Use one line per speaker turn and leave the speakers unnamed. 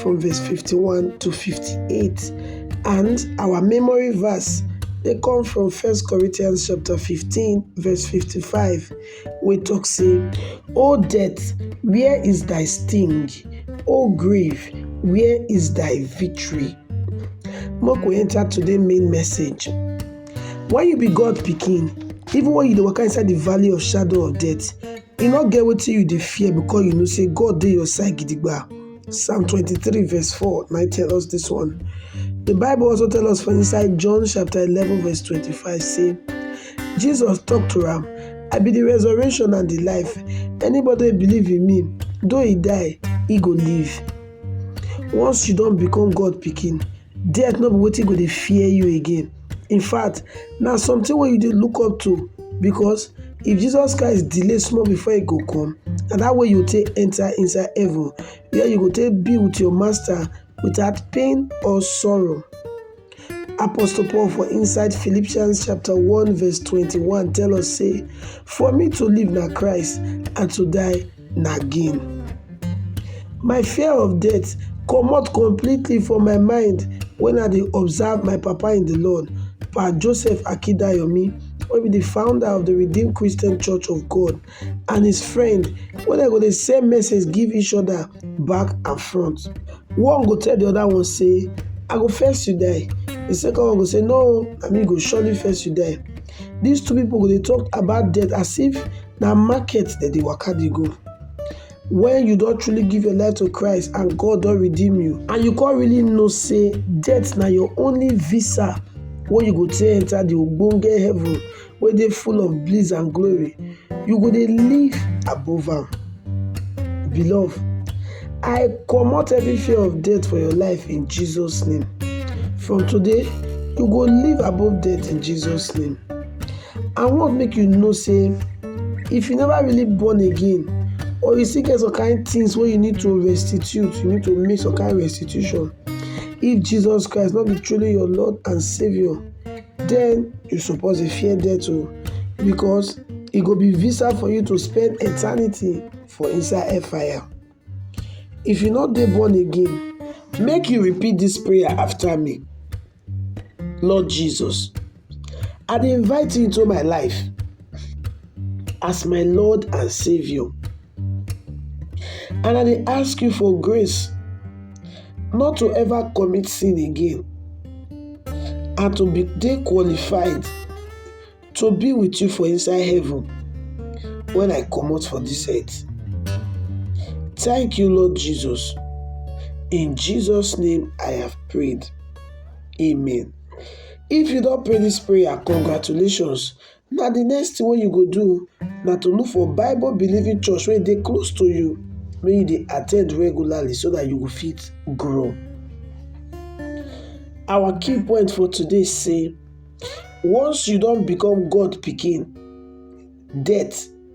from verse 51 to 58. And our memory verse they come from First Corinthians chapter 15, verse 55. We talk say, O death, where is thy sting? O grave, where is thy victory? Make we enter today main message. When you be God picking, even when you dey waka inside the valley of shadow of death, you not get wetin you dey fear because you know say God dey your side gidigba. Psalm 23 verse 4 now tell us this one. The Bible also tell us for inside John chapter 11 verse 25 say, Jesus talked to him. I be the resurrection and the life. Anybody believe in me, though he die, he go live. Once you don't become God picking, Death no be wetin go dey fear you again. In fact, na something wey you dey look up to because if Jesus Christ delay small before he go come, na that way you go take enter inside heaven where you go take be with your master without pain or sorrow. Apostle Paul for inside Philippians chapter 1 verse 21 tell us say, For me to live na Christ and to die nagging. My fear of death comot completely for my mind when I dey observe my papa in the Lord, Pa Joseph Akidayomi, wey be the founder of the Redeemed Christian Church of God, and his friend wey dem go dey send message give each other back and front. One go tell the other one say, I go first you die. The second one go say, No, na me go surely first you die. These two people go dey talk about death as if na market dem dey waka dey go. When you don truly give your life to Christ and God don redeem you and you come really know say death na your only visa wey you go take enter the ogbonge heaven wey dey full of bliss and glory, You go dey live above am. Beloved, I comot every fear of death for your life in Jesus name. From today, you go live above death in Jesus name. I wan make you know sey if you never really born again or you still get some kind things wey you need to restitute, you need to make some kind restitution if Jesus Christ no be truly your Lord and Saviour Den you suppose dey fear death o because e go be visa for you to spend eternity for inside hellfire. If you no dey born again, make you repeat dis prayer after me. Lord Jesus, I dey invite you into my life as my Lord and Saviour. And I dey ask you for grace not to ever commit sin again and to be dey qualified to be with you for inside heaven when I comot for this earth. Thank you, Lord Jesus. In Jesus' name I have prayed. Amen. If you don pray this prayer, congratulations. Na the next thing wey you go do na to look for Bible believing church wey dey close to you make you dey attend regularly so that you go fit grow. Our key point for today say once you don become God pikin, death